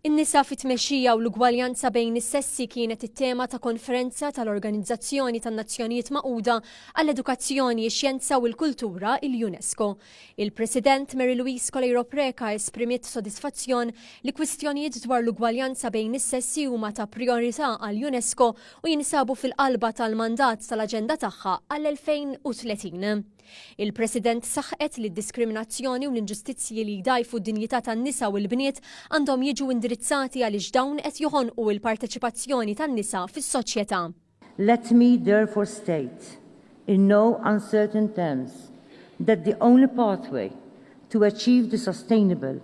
In-nisa fit-tmexxija u l-ugwaljanza bejn is-sessi kienet it-tema ta' konferenza tal-Organizzazzjoni tan-Nazzjonijiet Magħquda għall-Edukazzjoni, ix-Xjenza u l-Kultura, il-UNESCO. Il-President Mary Louise Coleiro Preca esprimiet sodisfazzjon li kwistjonijiet dwar l-ugwaljanza bejn is-sessi huma ta' prijorità għall-UNESCO u jinsabu fil-qalba tal-mandat tal-aġenda tagħha għall-2030. Il-President saħqet li d-diskriminazzjoni u l-inġustizzji li jdgħajfu d-dinjità tan-nisa u l-bniet għandhom jiġu indirizzati għaliex dawn qed joħonqu l-parteċipazzjoni tan-nisa fis-soċjetà. Let me therefore state, in no uncertain terms, that the only pathway to achieve the sustainable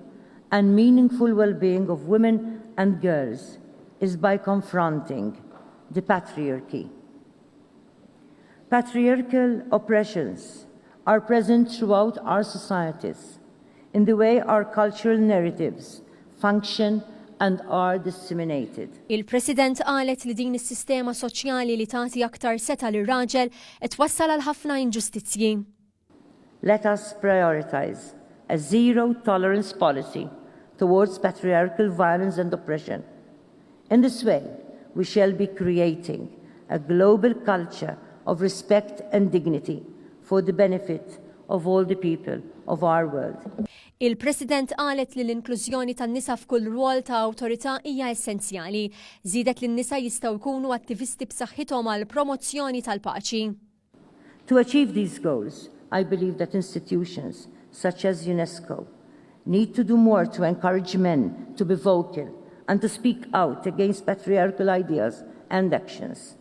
and meaningful well-being of women and girls is by confronting the patriarchy. Patriarchal oppressions are present throughout our societies in the way our cultural narratives function and are disseminated. Il-President qalet li din is-sistema soċjali li tagħti aktar setgħa lir-raġel qed twassal għal ħafna inġustizzji. Let us prioritise a zero tolerance policy towards patriarchal violence and oppression. In this way we shall be creating a global culture of respect and dignity for the benefit of all the people of our world. Il-President qalet li l-inklużjoni tan-nisa f'kull rwol ta' awtorità hija essenzjali. Żiedet li n-nisa jistgħu jkunu attivisti b'saħħithom għall-promozzjoni tal-paċi. To achieve these goals, I believe that institutions, such as UNESCO, need to do more to encourage men to be vocal and to speak out against patriarchal ideas and actions.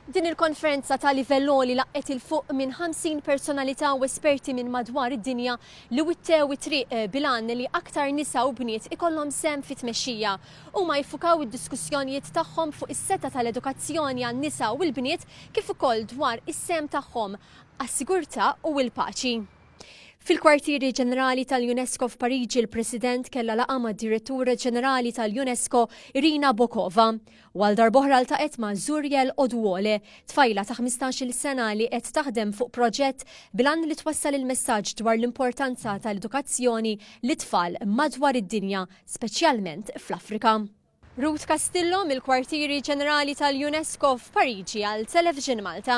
Din il-konferenza ta' livell għoli laqqgħet 'il fuq minn 50 personalità u esperti minn madwar id-dinja li wittew it-triq bil-għan li aktar nisa u bniet ikollhom sehem fit-tmexxija. Huma jiffukaw id-diskussjonijiet tagħhom fuq is-setgħa tal-edukazzjoni għan-nisa u l-bniet kif ukoll dwar is-sehem tagħhom għas-sigurtà u l-paċi. Fil-Kwartieri Ġenerali tal-UNESCO f'Pariġi l-President kellha laqgħa mad-Direttura Ġenerali tal-UNESCO Irina Bokova u għal darb'oħra ltaqgħet ma' Zuriel Oduole, tfajla ta' ħmistax-il sena li qed taħdem fuq proġett bil-għan li twassal il-messaġġ dwar l-importanza tal-edukazzjoni lit-tfal madwar id-dinja. speċjalment fl-Afrika. Ruth Castillo mill-Kwartieri Ġenerali tal-UNESCO f'Pariġi għal Television Malta.